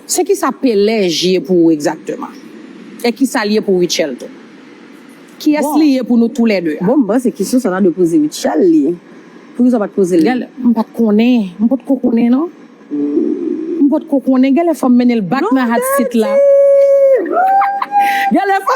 Se kisa pelej ye pou ou egzakteman? E kisa l ye pou Rutshelle tou? Kiyès li ye pou nou tou lè 2 a? Bon, m panse kesyon sa ta dwe poze Rutshelle li. Poukisa w pa t poze l li? Gèlè, m pa t konnen. M potko konnen non. M potko konnen. Gèlè fò m mennen l bak nan hat sit la. Non, Teddy! Gèlè fò.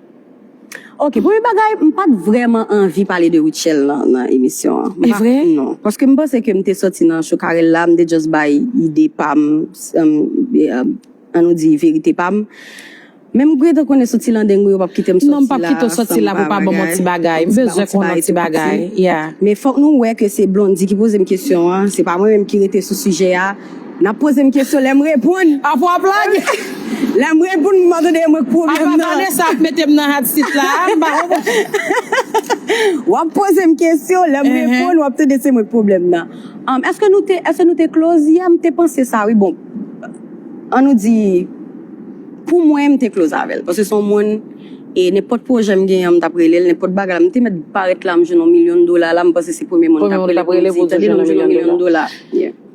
Ok premye bagay m pat vrèman anvi pale de Rutshelle nan nan emisyon an m pa non paske m panse ke m te sòti nan Chokarella m te just bay ide pa m an nou di verite pa m men m gentan konnen sou ti landeng mwen yo pap kite m sòti la non m pap kite w sòti la pou w pa ban m yon ti bagay m bezwen konn yon ti bagay yeah men fòk nou wè ke se Blondy ki poze m kesyon an se pa mwen menm ki rete sou sijè a. Nap pozem kesyon lem reponn. A fwa plag. Lem reponn m pa tande mwen k pwoblem nan. Apa Vanessa ap metem nan hot seat la a m pa konprann. Wap pozem kesyon lem reponn wap tande se mwen k pwoblem nan. Eske nou te eske nou te close yè m te panse sa wi bon an nou di pou mwen m te close avèl paske son moun e nenpòt pwojè m genyen m tap relel nenpòt bagay la m te mèt parèt la m jwenn yon milyon dola la m panse se premye moun m tap rele pou m di tande nou m jwenn yon milyon dola.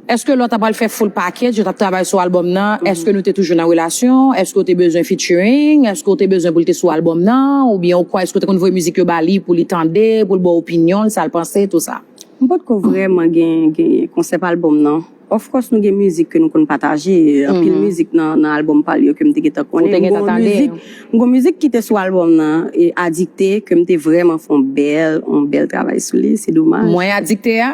Eske lò ta pral fè full package yo tap travay sou album nan eske nou te toujou nan relasyon eske ou te bezwen featuring eske ou te bezwen pou li te sou album nan ou byen ou kwa eske ou te konn voye mizik yo ba li pou li tande pou l baw opinyon l sal panse tout sa. M potko vrèman gen gen konsèp album nan of course nou gen mizik ke nou konn pataje anpil mizik nan nan album pal yo kem te gentan konnen m gon mizik m gon mizik kite sou album nan adikte kem te vrèman fon bèl on bèl travay sou li se domaj. Mwen adikte a?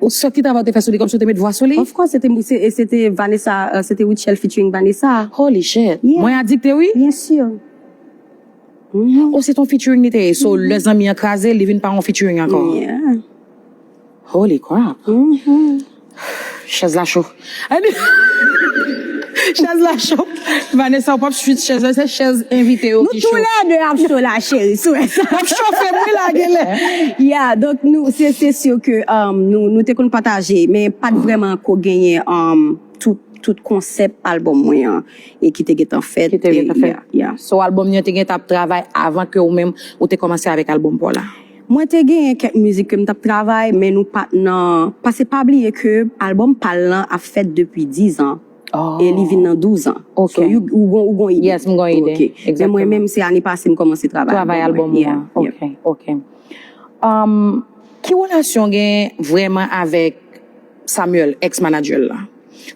Ou sòt ki travay ou te fè sou li kòmsi ou te met vwa sou li? Of course se te mwen se se te Vanessa se te Rutshelle featuring Vanessa. Holy shit! Yeah. Mwen adikte wi. Bien sûr. Mhm. Oh se ton featuring li te ye. So lè zanmi an kraze li vin pa yon featuring ankò. Yeah. Holy crap! Mhm. Chèz la cho. Chèz la cho Vanessa ou pap swit chèz la se chèz envite yo ki cho. Nou tou lè 2 ap cho la cheri sou wè sa. Wap chofe m wi la genlè. Yeah donk nou se sur ke nou te konn pataje men pat vreman ko genyen tout konsèp album mwen an e ki te gentan fèt yeah. So album nan te gentan ap travay avan ke ou menm ou te komanse avèk album paw la? Mwen te genyen kèk mizik ke m t ap travay men nou pa t nan pase pa bliye ke albòm pa l lan ap fèt depi dizan e li vin nan douzan so ou gon ide Yes m gon ide Ok men mwen menm se ane pase m kòmanse travay albòm mwen Travay albòm ou an Ok ok Ki relasyon w gen vrèman avèk Samuel, ex manager l la.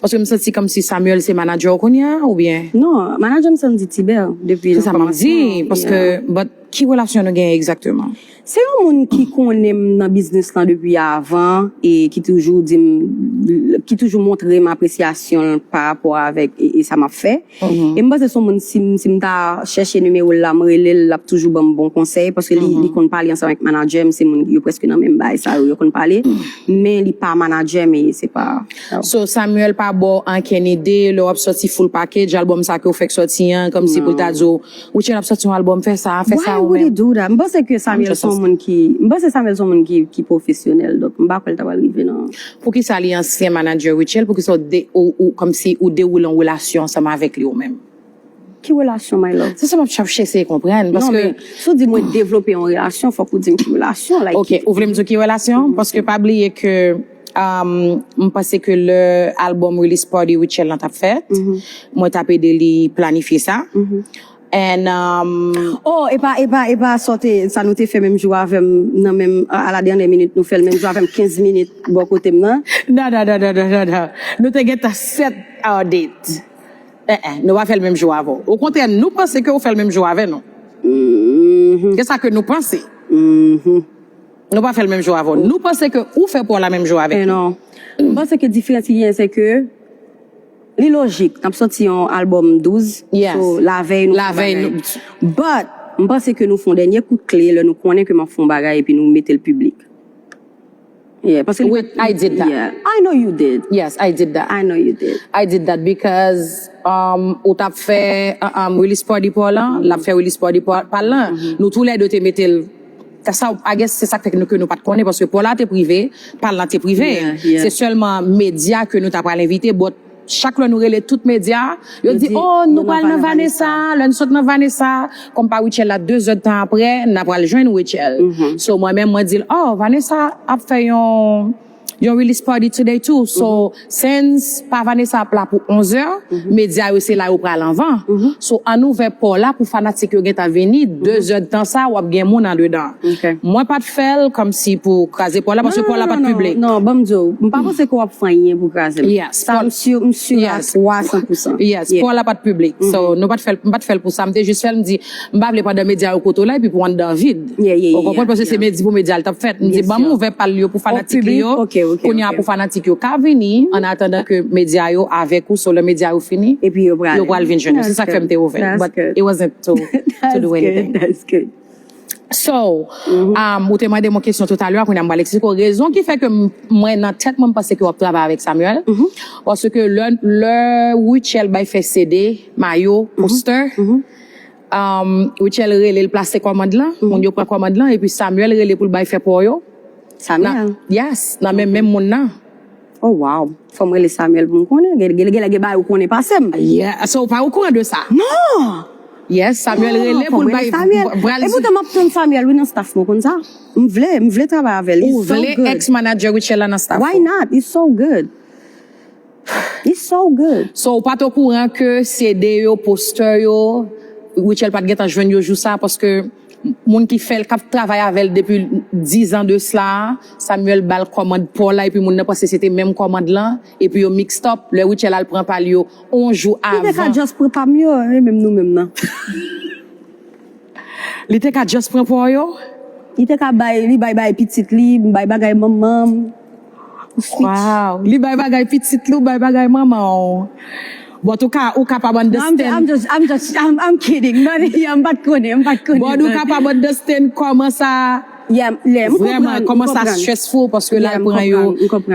Paske m santi komsi Samuel se manager w kounya oubyen? Non, manager m se Andy Tibert depi nan komansman. Se sa map di, paske but ki relasyon nou genyen egzakteman? Se yon moun ki konnen m nan biznis lan depi avan e ki toujou di m, ki toujou montre m apresyasyon l parapò avèk sa map fè. E m panse son moun si m ta chèche nimewo l la m rele l lap toujou banm bon konsèy paske li konn pale ansanm avèk manadjè m se moun yo prèske nan menm baay sa yo yo konn pale men li pa manadjè m e se pa sa. So Samuel pa baw ankenn ide lè wap sòti full package album sa ke ou fèk sòti an kòmsi pou l ta di w Routshelle ap sòti yon album fè sa, fè sa ou menm. Why would he do that? M panse ke Samuel son moun ki, m panse Samuel son moun ki ki pwofesyonèl donk m pa kwè l ta pral rive nan. Poukisa li ansyen manager Rutshelle poukisa ou de ou kòmsi ou dewoule yon relasyon ansanm avèk li ou menm? Ki relasyon my love? Se sa map chèf chese konprann paske. Non men si w di mwen devlope yon relasyon fòk ou di m ki relasyon like. Ok ou vle m di w ki relasyon paske pa bliye ke. M panse ke lè album release party Rutshelle lan tap fèt, mwen tap ede li planifye sa. And Oh, e pa, e pa, e pa sa w te, sa nou te fè menm jou avè m nan menm, a la dènyè minit nou fè l menm jou avè m 15 minit bò kote m nan. Non, non, non, non, non, non. Nou te gentan set our date. Eh eh, nou pa fè l menm jou avè w. Okontrè, nou panse ke ou fè l menm jou avè nou. Se sa ke nou panse. Nou pa fè l menm jan avè w. Nou panse ke ou fè pou w la menm jan avèk nou. M panse ke diferans ki genyen se ke li lojik n ap sòti yon albòm 12 so lavèy nou fè yon bagay. But, m panse ke nou fè yon dènye kout kle lè nou konnen ke m ap fè yon bagay epi nou mete l piblik. Yeah, paske li pa t. Wait, I did that. Yeah, I know you did. Yes, I did that. I know you did. I did that because ou t ap fè release party pa w lan, l ap fè release party pa l lan, nou tou lè de te mete l. Sa ou I guess se sak fè ke nou pat konnen paske paw la te prive, pal lan te prive. Se sèlman media ke nou ta pral envite but chak lè nou rele tout media yo di oh nou pral nan Vanessa lè nou sot nan Vanessa kòm pa Rutshelle la 2 zè tan aprè na pral jwenn Rutshelle. So mwen menm mwen dil oh Vanessa ap fè yon Yon release party today too so since pa Vanessa ap la pou 11 heures media yo se la yo pral anvan so ann ouvè pò la pou fanatik yo gentan vini 2 zè de tan sa wap gen moun andedan mwen pat fèl kòmsi pou kraze pò la paske pò la pat public. Non banm di w, m pa panse ke w ap fè anyen pou kraze l. Sa m sur, m sur a 300 pousan. Yes, pò la pat piblik. So nou pat fè l, m pat fè l pou sa, m te jis fè l m di M pa vle pandan medya yo kote w la epi pou anndan an vid. Ou konprann paske se mèdi pou medya l t ap fèt. M di ban m ouvè pa l yo pou fanatik li yo. Kounye a pou fanatik yo ka vini ann atandan ke medya yo avèk ou so lè medya yo fini yo pral vin jwenn ou. Se sa k fè m te ouvè l but it wasn't to do anything. So, ou te mande m yon kesyon toutalè a kounye a m pral eksplike w rezon ki fè ke mwen nan tèt mwen m panse ke w ap travay avèk Samuel paske lè Rutshelle bay fè CD, mayo, postè. Rutshelle rele l plase kòmand lan, moun yo pran kòmand lan epi Samuel rele pou l bay fè pò yo. Samuel? Yes, nan men menm moun nan. Oh wow, fò m rele Samuel pou m konnen, genlè gen bagay ou konnen pase m. Yeah, so ou pa okouran de sa? Non! Yes, Samuel rele pou l bay, pral di. Fò m rele Samuel. E poutan m ap tann Samuel wi nan staff mwen, ou konn sa? M vle, m vle travay avè l, he's so good. Ou vle ex manager Rutshelle la nan staff ou? Why not, he's so good. It's so good! So ou pat okouran ke CD yo, poster yo, Rutshelle pat gentan jwenn yo jou sa paske moun ki fèl kap travay avèl depi 10 ans de cela Samuel bal kòmand paw la epi moun nan panse se te menm kòmand lan epi yo mixed up lè Rutshelle al pran pal yo on jou Li te ka avan just pran pam yo e menm nou menm nan. Li te ka just pran paw yo? Li te ka bay, li bay bagay pitit li, m bay bagay manmanm. Waww li bay bagay pitit li ou bay bagay manmanw but ou ka ou kapab understand I'm kidding yeah mpat konnen mpat konnen but ou kapab understand koman sa vreman koman sa stressful paske lal pran yo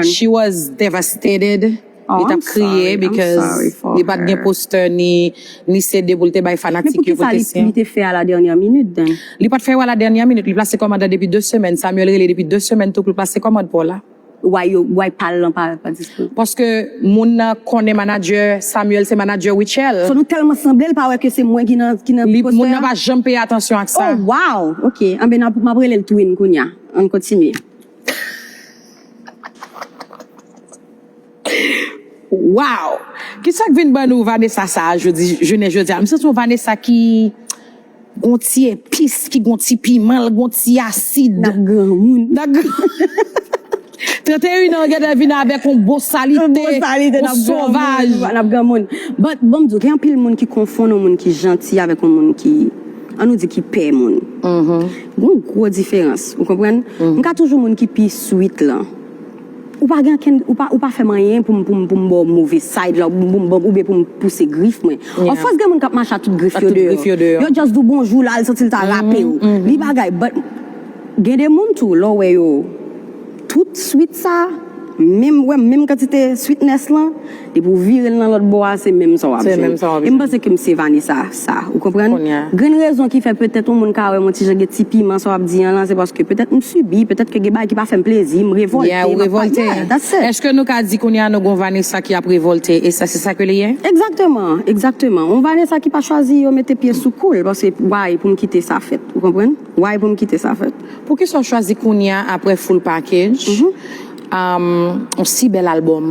she was devastated. Li tap kriye because li pat gen poster ni ni CD pou li te bay fanatik yo pou te siyen. Men poukisa li te fè a la dernière minute then? Li pat fè yo a la dernière minute, li plase kòmand la depi 2 semèn, Samuel rele depi 2 semèn tou pou l plase kòmand pou w la. Why yo, why pa l lan pa dispo? Paske moun nan konnen manager Samuel se manager Rutshelle. So nou tèlman sanble l pa wè ke se mwen ki nan ki nan poster a? Moun nan pa janm peye atansyon ak sa. Oh wow! Ok, anben nap map rele l twin kounya. Ann kontinye. Waww kisak vin ban nou Vanessa sa jodi jounen jodia m santi yon Vanessa ki gon ti epis ki gon ti piman l gon ti asid nan granmoun nan granmoun 31 ans gentan vin avèk yon bosalite yon sovaj nan granmoun but banm di w gen anpil moun ki konfonn yon moun ki janti avèk yon moun ki an nou di ki pè moun gon gwo diferans ou konprann m ka toujou moun ki pi sweet lan. Ou pa gen ankenn, ou pa fè m anyen pou m ba w move side la oubyen pou m pouse grif mwen. Of course gen moun k ap mache ak tout grif yo deyò. Yo just di w bonjou la, li santi l ta rape w. Li bagay but gen de moun tou lè w wè yo tout sweet sa, menm wè menm kantite sweetness lan. Depi ou vire l nan lòt bò a, se menm sa w ap jwenn. E m panse ke m se Vanessa sa, ou konprann? Grenn rezon ki fè petèt yon moun ka wè m yon ti jan gen ti piman sa w ap di an lan, se paske petèt m sibi, petèt ke gen bagay ki pa fè m plezi, m revòlte, m ap pale. Yeah, ou revòlte. Yeah, that's it. Èske nou ka di kounye a nou gen yon Vanessa ki ap revòlte, e sa se sa ke li ye? Egzakteman, egzakteman. Yon Vanessa ki pa chwazi yo mete pye sou kou l, paske why pou m kite sa fèt, ou konprann? Why pou m kite sa fèt? Poukisa w chwazi kounye a, aprè full package, Ahh on si bèl album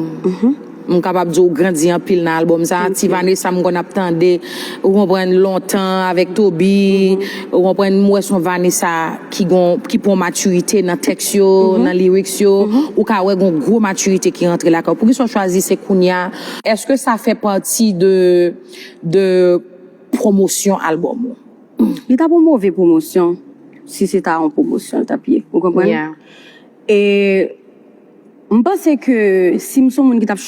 m kapab di w grandi anpil nan album sa ti Vanessa m konn ap tande ou konprann lontan avèk Toby ou konprann m wè son Vanessa ki gon ki pran maturite nan tèks yo nan lyrics yo ou ka wè gon gwo maturite ki rantre lakay w poukisa w chwazi se kounya Eske sa fè pati de de pwomosyon album ou? Li tap on move pwomosyon si se ta on pwomosyon l tap ye ou konprann? E m panse ke si m son moun ki t ap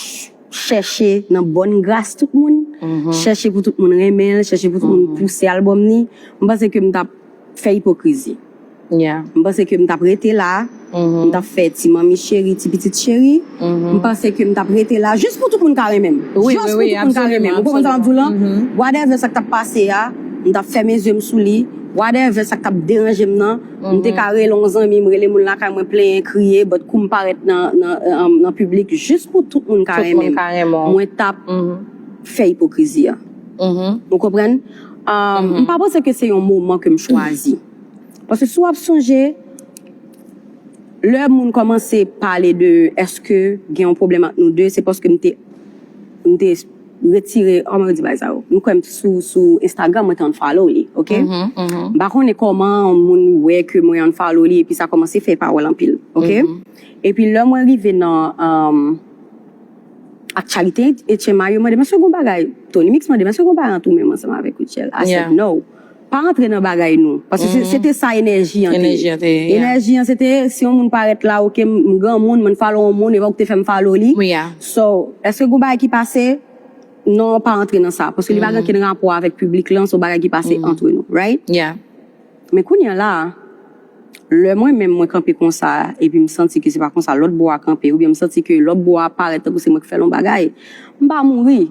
chèche nan bòn gras tout moun, chèche pou tout moun renmen l, chèche pou tout moun pouse albòm li, m panse ke m t ap fè ipokrizi. M panse ke m t ap rete la, m t ap fè ti manmi cheri, ti pitit cheri. M panse ke m t ap rete la jis pou tout moun ka renmen m. Jis pou tout moun ka renmen m. Ou konprann sa m ap di w lan? Whatever sa k t ap pase a, m t ap fèmen zye m sou li. Whatever sa k t ap deranje m nan. M te ka rele yon zanmi m, rele moun lakay mwen plenyen, kriye, but kou m parèt nan piblik jis pou tout moun ka renmen m, mwen t ap fè ipokrizi a. Ou konprann? M pa panse ke se yon moman ke m chwazi. Paske si w ap sonje, lè moun kòmanse pale de èske gen yon pwoblèm ant nou de, se paske m te. Retire oh mwen redi bagay sa yo. M kwèm t sou sou Instagram mwen te unfollow li ok m pa konnen kòman yon moun wè ke mwen unfollow li epi sa kòmanse fè pawòl anpil ok epi lè mwen rive nan aktyalite Etchen Mario mande m èske gon bagay Tonymix mande m èske gon bagay ant ou menm ansanm avèk Rutshelle I said no. Pa antre nan bagay nou. Paske se te sa enèji an te ye. Enèji an se te si yon moun parèt la ok m granmoun m follow yon moun epi ou te fè m follow li. So eske gen yon bagay ki pase non pa antre nan sa paske li pa gen okenn rapò avèk piblik lan se yon bagay ki pase antre nou right. Men kounya la. Lè mwen menm mwen kanpe konsa epi m santi ke se pa konsa lòt bò a kanpe oubyen m santi ke lòt bò a parèt tankou se mwen ki fè l yon bagay, m pa mouri.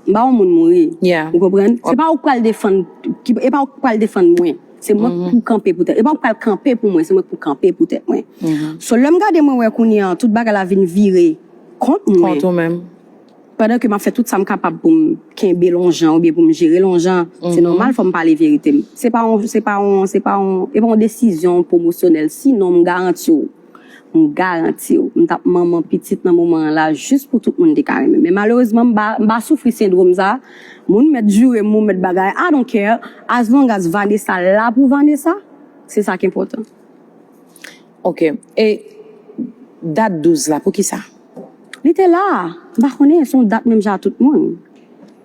M pa yon moun mouri. Ou konprann? Se pa ou ki pral defann, e pa ou ki pral defann mwen. Se mwen ki pou kanpe pou tèt. E pa ou ki pral kanpe pou mwen, se mwen ki pou kanpe pou tèt mwen. So lè m gade mwen wè kounye an tout bagay la vin vire kont mwen. Kont ou menm. Pandan ke m ap fè tout sa m kapab pou m kenbe l on jan oubyen pou m jere l on jan, se nòmal fò m pale verite m. Se pa on, se pa on, se pa on, e pa on desizyon pwomosyonèl, sinon m garanti w, m garanti w, m t ap manman pitit nan moman an la jis pou tout moun te ka renmen m. Men malerezman m pa, m pa soufri sendwom sa, moun mèt jure m, moun mèt bagay, I don't care, as long as Vanessa la pou Vanessa, se sa k enpòtan. Ok e dat 12 la poukisa? Li te la, m pa konnen, se yon dat menm jan a tout moun.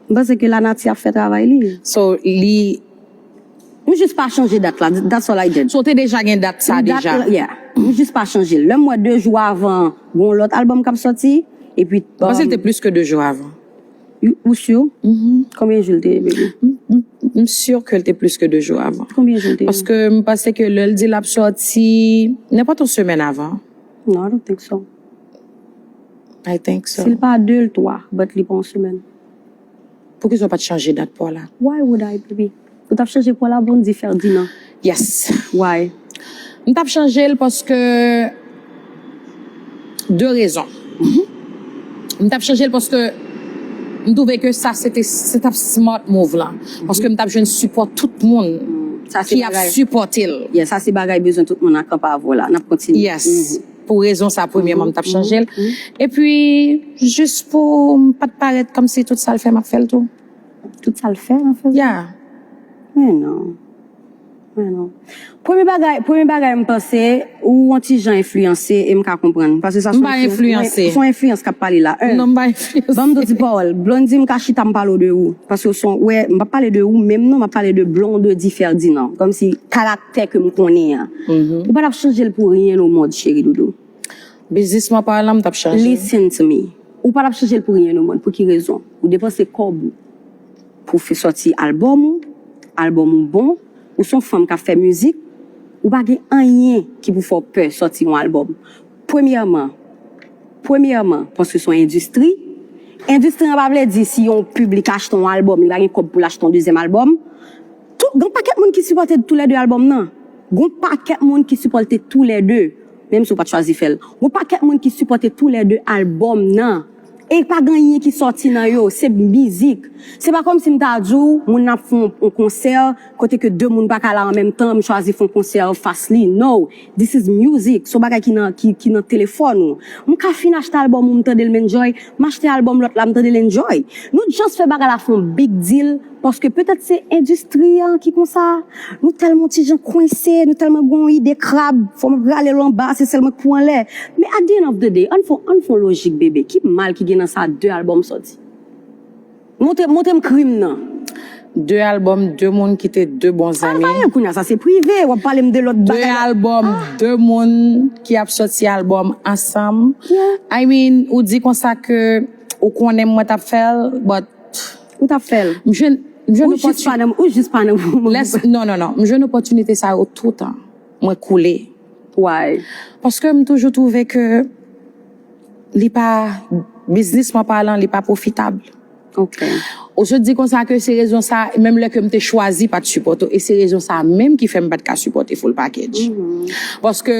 M panse ke lanati ap fè travay li. So li. M jis pa chanje dat la, that's all I did. So w te deja gen dat sa deja? Yeah. M jis pa chanje l. Lè m wè 2 jou avan gen yon lòt albòm k ap sòti, epi. M panse l te plis ke 2 jou avan. Ou sur? Konbyen jou li te ye baby? M sur ke li te plis ke 2 jou avan. Konbyen jou li te ye? Paske m panse ke lè li di lap sòti, nenpòt yon semèn avan. Non, I don't think so. I think so. Si li pa 2, li 3, but li pa yon semèn. Poukisa ou pat chanje dat paw la? Why would I baby? Ou tap chanje pwa la bon di Ferdinand. Yes why m tap chanjel paske de rezon m tap chanjel paske m twouve ke sa se te se tap smart move lan paske m tap jwenn sipò tout moun ki ap sipòtel yes sa se bagay bezwen tout moun nan kan pa avw la nap kontinye yes pou rezon sa premyèman m tap chanjel epi jis poum pat parèt kòmsi tout sal fè map fèl tou. Tout sa l fè, an fè. Ya. Men non. Men non. Premye bagay, premye bagay m panse, ou on ti jan enfliyanse e m ka konprann. Pase sa son. M pa enfliyanse. Son enfliyans k ap pale la. Non m pa enfliyanse. Ban m do ti pawòl. Blondy m ka chita m pale w de ou. Pase w son, wè, m pa pale de ou menm non, m ap pale de Blondedy Ferdinand. Kòmsi karaktè ke m konnen an. Ou pa t ap chanje l pou ryen o mond cheri doudou. Biznis map a la m tap chanje. Listen to me, ou pa tap chanje l pou ryen o mond, pou ki rezon? Ou depanse kòb ou pou w sòti album ou, album ou bon, ou son fanm kap fè mizik, ou pa gen anyen ki pou fè w pè sòti yon album. Premyèman, premyèman paske son endistri, endistri an pa vle di si yon piblik achte yon album li pa gen kòb pou l achte yon dezyèm album, tou gon pakèt moun ki sipòte tou lè 2 album nan, gon pakèt moun ki sipòlte tou lè 2. Menm si w pat chwazi fè l. Gon pakèt moun ki sipòte tou lè 2 album nan e pa gen anyen ki sòti nan yo, se mizik. Se pa kòmsi m ta di w moun nan ap fè yon konsè kote ke 2 moun pa ka la an menm tan m chwazi fè yon konsè an fas li. No! This is music, se yon bagay ki nan ki nan telefòn ou. M ka fin achte album ou m tande l m enjoy, m achte album lòt la m tande l enjoy. Nou just fè bagay la fè yon big deal. Paske petèt se endistri an ki konsa, nou tèlman ti jan kwense, nou tèlman gen yon ide krab, fò m rale l anba, se sèl mwen k pou anlè. Men at di èn òf de de, ann fè yon lojik bebe, ki mal ki gen nan sa de albòm sòti? Montre m krim nan. De albòm de moun ki te de bon zanmi. Al vanyen kounye a, sa se prive, w ap pale m de lòt bagay la. De albòm de moun ki ap sòti albòm ansanm. I mean, ou di konsa ke ou konnen mwen t ap fè l, but. Ou tap fèl? M jwenn opòtinite. Ou jis pa nan moman pou sa. Non, non, non. M jwenn opòtinite sa yo toutan. Mwen koule. Why? Paske m toujou twouve ke li pa, biznisman palan, li pa pwofitab. Ok. Ou sot di konsa ke se rezon sa, menm lè ke m te chwazi pa t sipòte w, e se rezon sa menm ki fè m pa t ka sipòte Full Package. Paske.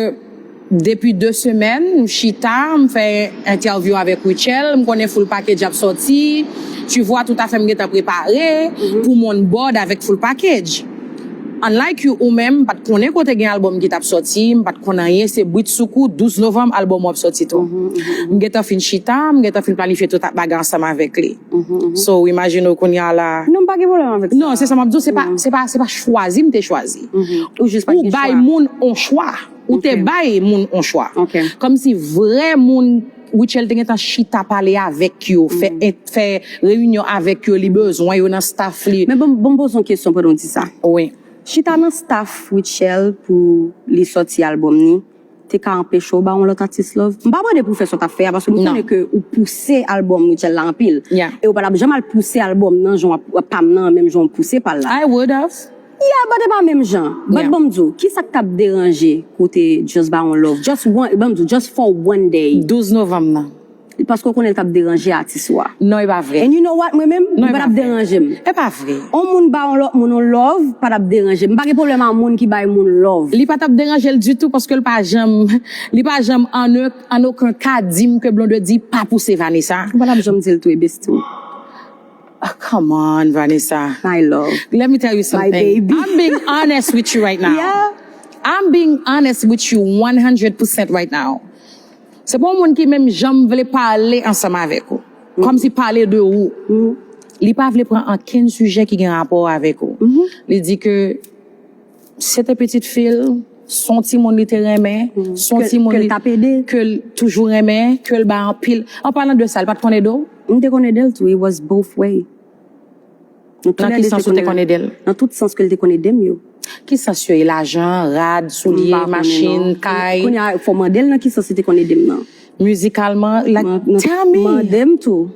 Depi 2 semèn m chita m fè entèvyou avèk Rutshelle, m konnen full package ap sòti, tu vois tout afè m gentan prepare pou m on board avèk full package. Unlike you ou menm m pat konnen ke w te gen album ki tap sòti, m pat konn anyen se britsoukou 12 novanm album ou ap sòti tou. M gentan fin chita, m gentan fin planifye tout bagay ansanm avèk li. So w imajine w kounya a la. Non m pa gen pwoblèm avèk sa. Non se sa map di w se pa chwazi m te chwazi. Ou jis pat gen chwa. Ou bay moun on chwa. Ou te bay moun on chwa. Kòm si vrè moun Rutshelle te gentan chita pale avèk yo, fè reyinyon avèk yo, li bezwen yo nan staff li. Men banm poze yon kesyon pandan w di sa. Wi. Chita nan staff Rutshelle pou li sòti albòm ni, te ka anpeche w ba on lòt atis love? M pa mande pou w fè sa w tap fè a paske m konnen ke ou pouse albòm Rutshelle la anpil. E ou pa tap janm al pouse albòm nan jan w ap pam nan menm jan w pouse pa l la. I would have. Yeah but e pa menm jan. But banm di w kisak tap deranje pou w te just ba yon love just one banm di w just for one day. 12 novanm nan. Paske w konnen l tap deranje atis ou a. Non e pa vre. And you know what mwen menm li pa tap deranje m. E pa vre. On moun ba yon lòt moun yon love pa tap deranje m. M pa gen pwoblèm a moun ki bay moun love. Li pa tap deranje l ditou paske l pa janm li pa janm an oken ka di m ke Blondedy pa pouse Vanessa. Ou pa tap janm di l tou e besti w. Ahh come on Vanessa My love Let me tell you something My baby I'm being honest with you right now Yeah I'm being honest with you one hundred percent right now Se pa yon moun ki menm janm vle pale ansanm avèk ou Kòmsi pale de ou Li pa vle pran ankenn sijè ki gen rapò avèk ou Li di ke Se te pitit fi l, s on timoun li te renmen, s on timoun li ke l toujou renmen, ke l bay anpil. An palan de sa, li pa t konn ede w? M te konn ede l tou, it was both way. Nan ki sans ou te konn ede l? Nan tout sans ke l te konn ede m yo. Ki sans yo ye? Lajan, rad, soulye, machin, kay? Kounye a, fò w mande l nan ki sans li te konn ede m nan. Mizikalman, like, tell me! Mande m tou.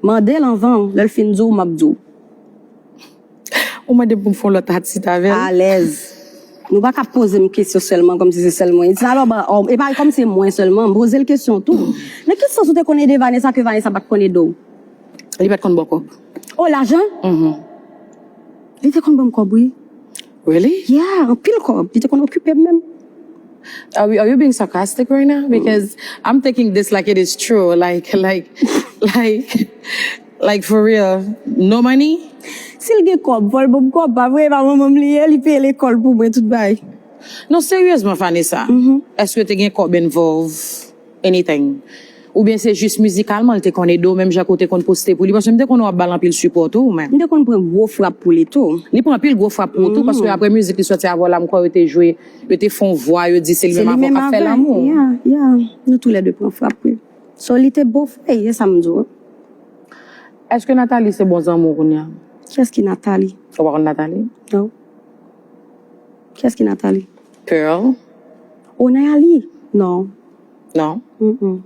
Mande l anvan, lè l fin di w, m ap di w. Ou mande m pou m fè yon lòt atis avè l? Alèz. Nou pa ka poze m kesyon sèlman kòm si se sèl mwen. Edson, Alò, ba, ò, e pa kòm se mwen sèlman. M poze l kesyon tou. Nan ki sans ou te konn ede Vanessa ke Vanessa pa t konn ede w? Li pa t konn ba w kòb. O, lajan? Mh. Li te konn ban m kòb wi. Really? Yeah, anpil kòb. Li te konn okipe m menm. Are we, are you being sarcastic right now? Because I'm thinking this like it is true, like, like, like. Like for real no money? Sil gen kob fol banm kob pa vre epa manmanm li ye li peye lekol pou mwen tout bay. Non seryezman Vanessa eske te gen kob envolve anything ou byen se jis mizikalman li te konn ede w menm jan ke w te konn poste pou li paske m te konnen wap bal anpil sipò tou ou menm. M te konn pran gwo frap pou li tou. Li pran anpil gwo frap pou ou tou paske aprè mizik li sòti avè w la m kwè yo te jwe yo te fon vwa yo di se li menm avè w kap fè lanmou. Se li menm avè l yeah yeah nou tou lè 2 pran frap wi. So li te bo vre ye sam di w wi. Eske Nathalie se bon zanmi w kounya? Kiyès ki Nathalie? Ou pa konn Nathalie? Non. Kiyès ki Nathalie? Pearl. Oh Nayalie? Non. Non? Humm.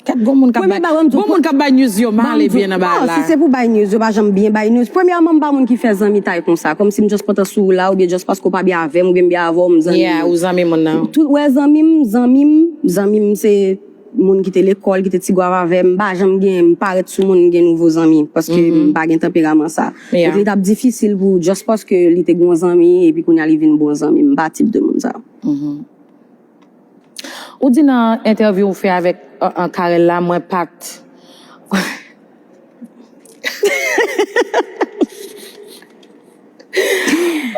Gad gon moun kap bay gon moun kap bay news yo mal e byen nan bagay la. Non si se pou bay news yo pa janm byen bay news. Premyèman m pa moun ki fè zanmitay konsa. Kòmsi m just kontan si w la oubyen just paske w pa byen avè m. Avèm ou byen m byen avèw m zanmi Yeah ou zanmi moun nan. Tout wè zanmi m zanmi m zanmi m se Moun ki te lekòl ki te ti gwav avèm m pa janm gen m parèt sou moun m gen nouvo zanmi paske m pa gen tanperaman sa Yeah. donk li tap difisil pou just paske li te gon zanmi epi kounya li vin bon zanmi m pa tip de moun sa. Ou di nan entèvyou ou fè avèk Carel la mwen pat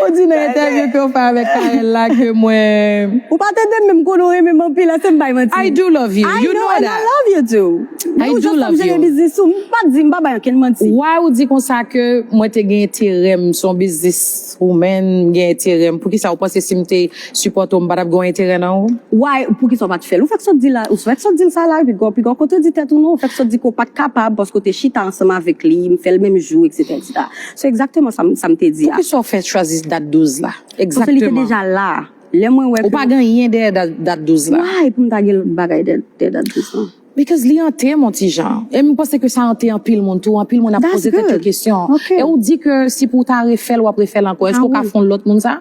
Ou di nan entèvyou ke ou fè avèk Carel la ke mwen Ou pa tande menm konnen ou renmen m anpil ase m bay manti I do love you, you know that I know and I love you too Men ou jan sa m jere biznis ou m pa di m pa bay ankenn manti Why ou di konsa ke mwen te gen enterè m son biznis. Ou menn m gen enterè m. Poukisa ou panse sim te sipòte w m patap gen yon enterè nan ou? Why poukisa ou pat fèl? Ou fèk sot dil la, ou fèk sot dil sa la ui pigaw, pigaw kote ou di tèt ou non, ou fèk sot di ke ou pat kapab paske ou te chita ansanm avèk li, m fèl menm jou etc etc. Se exactement sa m sa m te di a. Poukisa ou fè chwazi dat 12 la? Paske li te Exactement. deja la. Lè mwen wè Ou ke pa gen anyen dèyè dat 12 la. Why pou m ta gen bagay dèyè dat 12 lan? Because li ante mon ti jan. E m panse ke sa ante anpil moun tou, anpil moun ap poze tèt yo kesyon. E ou di ke si pou w ta refè l w ap refè l ankò. Èske ou ka fè yon lòt moun sa?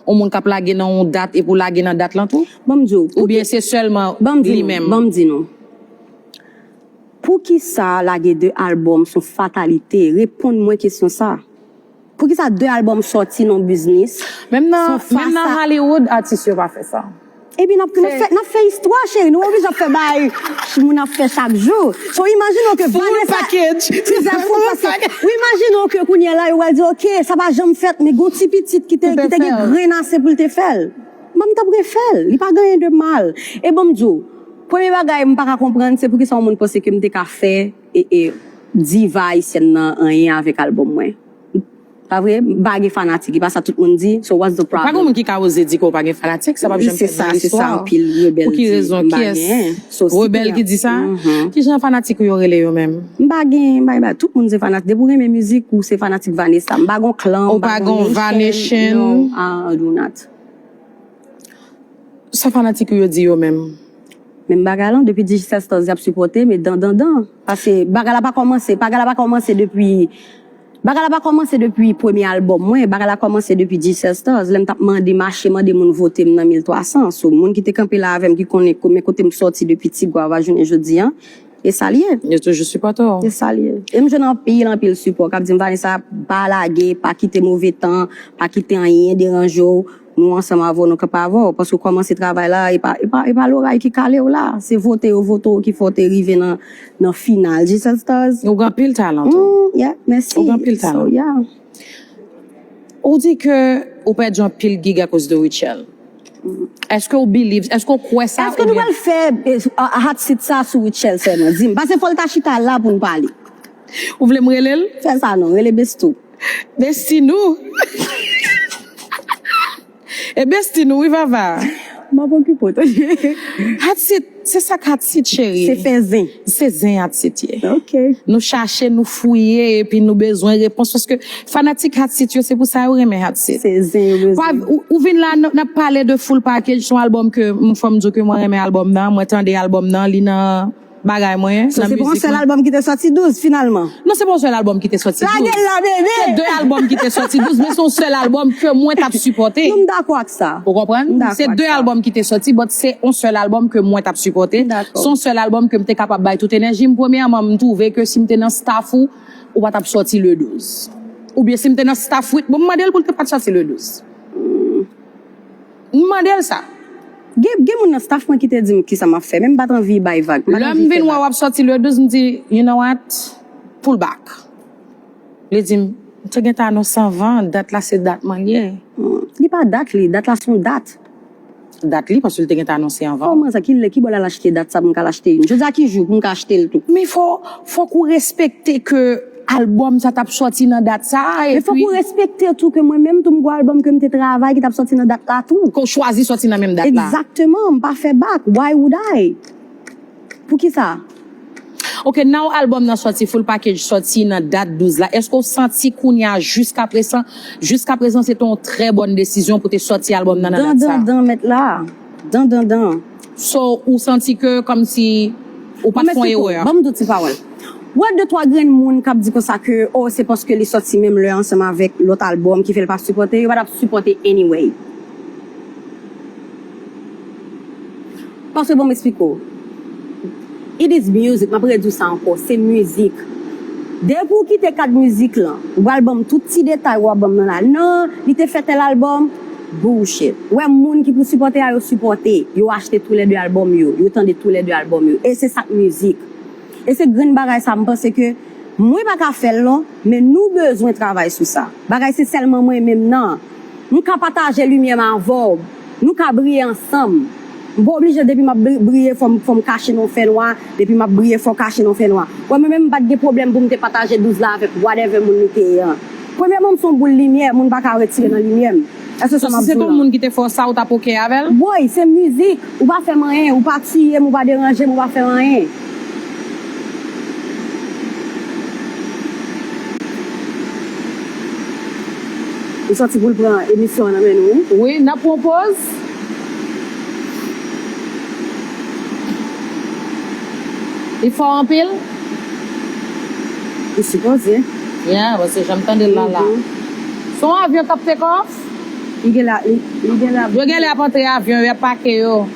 Yon moun k ap lage nan yon dat epi w lage nan dat lan tou? Ban m di w. Oubyen se sèlman li menm? Ban m di nou. Poukisa lage 2 album son fatalite? Reponn mwen kesyon sa. Poukisa 2 album soti non biznis Menm nan sou menm nan fasa Hollywood atis yo pa fè sa. Epi nap Se nap fè nap fè istwa cheri nou oblije ap fè bagay moun ap fè chak jou so imajine w ke Full Vanessa package se Sa full Vanessa package ou imajine w ke kounyè la yo pral di ok sa pa janm fèt men gon ti pitit ki te ki te ki te gen fè l. grenn ase pou l te fè l bon m tap refè l li pa gen anyen de mal e bon m di w premye bagay m paka konprann se poukisa yon moun panse ke m te ka fè E diva ayisyèn nan anyen avèk album mwen pa vre m pa gen fanatik e pa sa tout moun di so what's the problem. Pa gen moun ki ka oze di ke ou pa gen fanatik sa pap janm fèt nan listwa pou ki rezon kyès rebèl ki di sa kijan fanatik ou yo rele yo menm. M pa gen m pa gen tout moun se fanatik depi ou renmen mizik ou se fanatik Vanessa m pa gon klan m pa gon nation no I do not. Sa fanatik ou yo di yo menm? Menm bagay lan depi digicestos yap sipote me dan dan dan paske bagay la pa komanse bagay la pa komanse depi bagay la pa komanse depi premye album mwen bagay la komanse depi digicestos lèm tap mande mache mande moun votem nan 1300 so moun kite kanpe la avèm ki konnen men kotem soti depi ti guava jounen jodi an esal ye yo toujou sipote w esal ye em jwenn anpil anpil sipo kap dim vanessa pa lage pa kite move tan pa kite anyen deranje w. Nou ansanm avè w nou kanpe avè w paske w kòmanse travay la e pa loray ki kale w la se vote yo vote w ki fè w te rive nan final G-cell stars. Ou gen anpil talan tou. Humm yeah mèsi. Ou gen anpil talan. So yeah. Ou di ke ou pèdi anpil gig akoz de Rutshelle. Eske ou believe, eske ou kwè sa oubyen. Eske nou pral fè hot seat sa sou Rutshelle sèlman? Di m. Pase fò l ta chita la pou n pale. Ou vle m rele l? Fè sa non, rele Besto. Men stil nou. Ebyen stil nou wi vava. Map okipe w tande. Hatit se sak hatit cheri. Se fè zen. Se zen hatit ye. Ok. Nou chache nou fouye epi nou bezwen repons paske fanatik hatit yo se pou sa yo renmen hatit. Se zen yo bezwen. Ou vin la nap pale de full package son album ke fòm diw ke mwen renmen album nan mwen tande album nan li nan Bagay mwen nan mizik mwen. So se pa yon sèl albòm ki te sòti 12 finalman? Non se pa yon sèl albòm ki te sòti 12. Lage l la bebe! Se 2 albòm ki te sòti 12 men se yon sèl albòm ke mwen t ap sipòte. Non m dakò ak sa. Ou konprann? M dakò ak sa. Se 2 albòm ki te sòti but se yon sèl albòm ke mwen t ap sipòte. M dakò. Se yon sèl albòm ke m te kapab bay tout enèji m. Premyèman m twouve ke si m te nan staff ou, ou pa t ap sòti le 12. Oubyen si m te nan staff Wid bon m mande l pou l te pa t sòti le 12. M mande l sa. Gen, gen moun nan staff mwen ki te di m kisa m ap fè, men m pa t anvi bay vag. M pa t anvi fè vag. Lè m vin wè w ap sòti le 12, m di, you know what, pull back. Li di m, m te gentan anonse anvan, dat la se dat mannyè. Li pa dat li, dat la s on dat. Dat li, paske li te gentan anonse anvan. Kòman sa, ki lè, ki bò l al achte dat sa pou m ka al achte youn? Jodi a ki jou pou m ka achte l tou? Men fò, fòk ou respekte ke. Album sa tap sòti nan dat sa a epi. E fòk ou respekte tou ke mwen menm tou m gou album ke m te travay ki tap sòti nan dat la tou. Ke w chwazi sòti nan menm dat la. Exactement, m pa fè back, why would I? Poukisa? Ok now album nan sòti full package sòti nan dat 12 la eske w santi kounya jiskapresan jiskaprezan se te yon trè bòn desizyon pou te sòti album nan nan dat sa a? Dan dan dan mèt la. Dan dan dan. So ou santi ke kòmsi ou pat fon erè a? Banm di w ti pawòl. Ou wè de twa grenn moun kap di konsa ke oh se paske li sòti menm lè ansanm avèk lòt albòm ki fè l pa sipòte, yo pa tap sipòte anyway. Paske banm esplike w. It is music map rediw sa ankò se mizik depi ou kite kad mizik lan ou pral banm tout ti detay wap banm nan la nan li te fè tèl album bullshit ou wè moun ki pou sipòte a yo sipòte yo achte tou lè 2 album yo yo tande tou lè 2 album yo e se sak mizik e se grenn bagay sa m panse ke mwen paka fèl non men nou bezwen travay sou sa bagay se sèlman mwen menm nan. M ka pataje limyè m avè w Nou ka briye ansanm M pa oblije depi m ap briye fò m kache nan yon fènwa Depi m ap briye fò kache nan fènwa Wè mwen menm m pa t gen pwoblèm pou m te pataje douz la avèk whatever moun li te ye an Premyèman m s on boul limyè moun pa ka retire nan limyè m Èske sa m ap di w la. So si se t on moun ki te fè w sa ou t ap ok avè l? Woy se mizik Ou pa fè m anyen Ou pa tiye m ou pa deranje m ou pa fè m anyen. Ou santi poul pran emisyon an nan men nou wi. Wi nap pran yon pòz. Li fò anpil? Li sipoze. Yeah paske janm tandel la la. Son avyon kap take off? Li genlè ap. Yo genlè ap antre avyon yo ap pake yo.